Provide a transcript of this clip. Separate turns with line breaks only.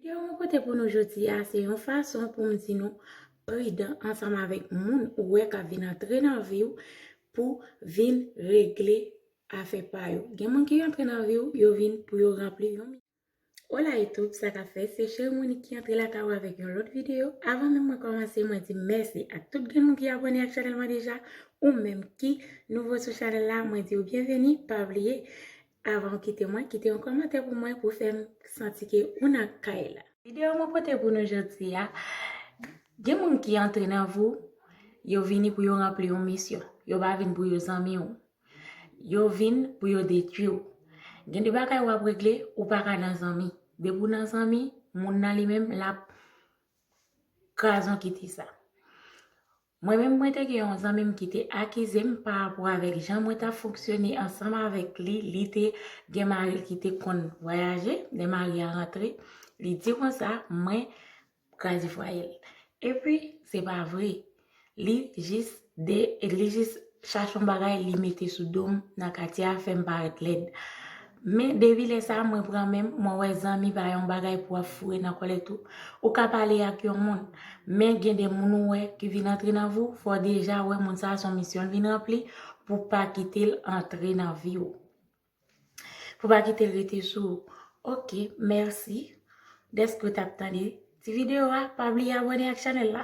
Ke mwen pote pou nou jodi a se yon fason pou m di nou pridan ansanm avèk moun ou wè k ap vin antre nan vi w pou vin regle afè pa yo. Gen moun ki antre nan vi w, yo vin pou yo ranpli yon. Hola YouTube, sa k ap fèt? Se Cherie Monique ki antre lakay ou avèk yon lòt videyo. Avan menm mwen kòmanse, mwen di mèsi ak tout grenn moun ki abòne ak chanèl mwen deja. Ou menm ki nouvo sou chanèl la, mwen di w byenveni. Pa bliye Avan ou kite mwen, kite yon kòmantè pou mwen pou fè m santi ke ou nan kay la. Video mwen pote pou nou jodi a, gen moun ki antre nan vi w, yo vini pou yo ranpli yon misyon. Yo pa vin pou yo zanmi w. Yo vin pou yo detwi w. Gen de bagay w ap regle, ou pa ka nan zanmi. Depi w nan zanmi, moun nan li menm l ap kraze yon kite sa. Mwen menm mwen te gen yon zanmi m ki te akize m pa rapò avèk jan mwen t ap fonksyone ansanm avèk li, li te gen mari l ki te konn vwayaje, lè mari a rantre, li di konsa mwen kraze fwaye l. Epi se pa vre, li jis de, li jis chache yon bagay li mete sou do m nan katye a fè m parèt lèd. Men depi lè sa mwen pran menm mwen wè zanmi pa yon bagay pou ap foure nan kòlèt ou. Ou ka pale ak yon moun, men gen de moun ou wè ki vin antre nan vi w, fò w deja wè moun sa son misyon l vin ranpli pou w pa kite l antre nan vi w. Pou w pa kite l rete sou ou. Ok, mèsi dèske w t ap tande ti videyo a, pa bliye abone ak chanèl la.